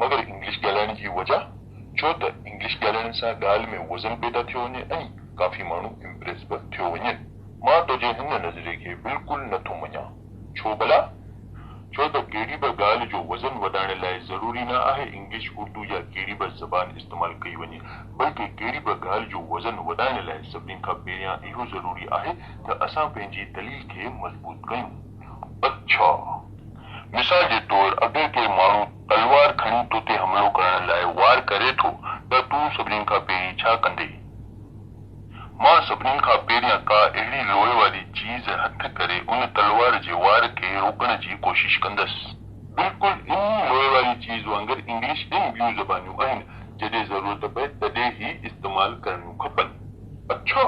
مگر انگلش ڳالهائڻ جي وجه ڇو ته انگلش ڳالهائڻ سان ڳالهه ۾ وزن پيدا ٿيو وڃي ۽ ڪافي ماڻهو امپريس به ٿيو وڃن. مان تنهنجي هن نظريي کي بلڪل نه ٿو مڃان. ڇو ڀلا؟ ڇو ته ڪهڙي به ڳالهه جو وزن وڌائڻ لاء ضروري نه آهي انگلش، اردو يا ڪهڙي به زبان استعمال ڪئي وڃي بلڪه ڪهڙي به ڳالهه جو وزن وڌائڻ لاء سڀني کان پهريان اهو ضروري آهي ته اسان پنهنجي دليل کي مضبوط ڪيون. اڇا! مثال جي طور اگر ڪي ماڻهو تلوار کڻي تو تي حملو ڪرڻ لاء وار ڪري ٿو ته تون سڀني کان پهرين ڇا ڪندين؟ مان سڀني کان پهريان ڪا اهڙي لوهي واري چيز هٿ ڪري ان تلوار جي وار کي روڪڻ جي ڪوشش ڪندس. بلڪل انهي لوهي واري چيز وانگر انگلش ۽ ٻيون زبانيون آهن جڏهن ضرورت پئي تڏهن هي استعمال ڪرڻيون کپن. اڇا!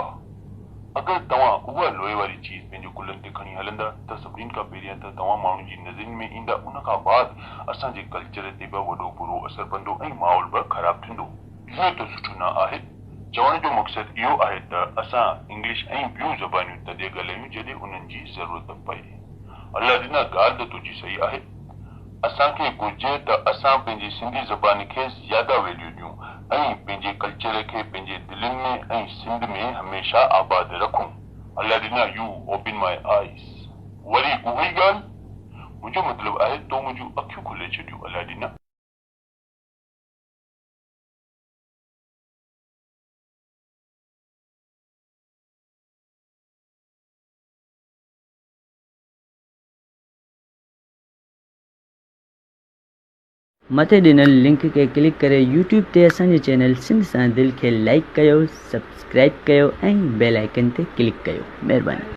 اگر توهان اها لوئي واري چيز پنهنجي ڪلهن تي کڻي هلندا ته سڀني کان پهريان ته توهان ماڻهن جي نظرين ۾ ايندا ان کان بعد اسان جي ڪلچر تي به وڏو برو اثر پندو ۽ ماحول به خراب ٿيندو. اهو ته سٺو نه آهي. چوڻ جو مقصد اهو آهي ته اسان انگلش ۽ ٻيون زبانيون تڏهن ڳالهايون جڏهن انهن جي ضرورت پئي. الله ڏنا ڳالهه ته تنهنجي صحيح آهي. اسان کي گهرجي ته اسان پنهنجي سنڌي زبان کي زياده ويليو ڏيون ۽ پنهنجي ڪلچر کي پنهنجي دلين ۾ ۽ سنڌ ۾ هميشه آباد رکون. الله ڏنا يو اوپن ماء آئيز وري اهوئي ڳالهه منهنجو مطلب آهي تو منهنجون اکيون کولي ڇڏيون الله ڏنا. مٿي ڏنل لنڪ کي ڪلڪ ڪري يوٽيوب تي اسان جي چينل سنڌ سان دل کي لائيڪ ڪيو سبسڪرائيب ڪيو ۽ بيل آئيڪن تي ڪلڪ ڪيو مھرباني.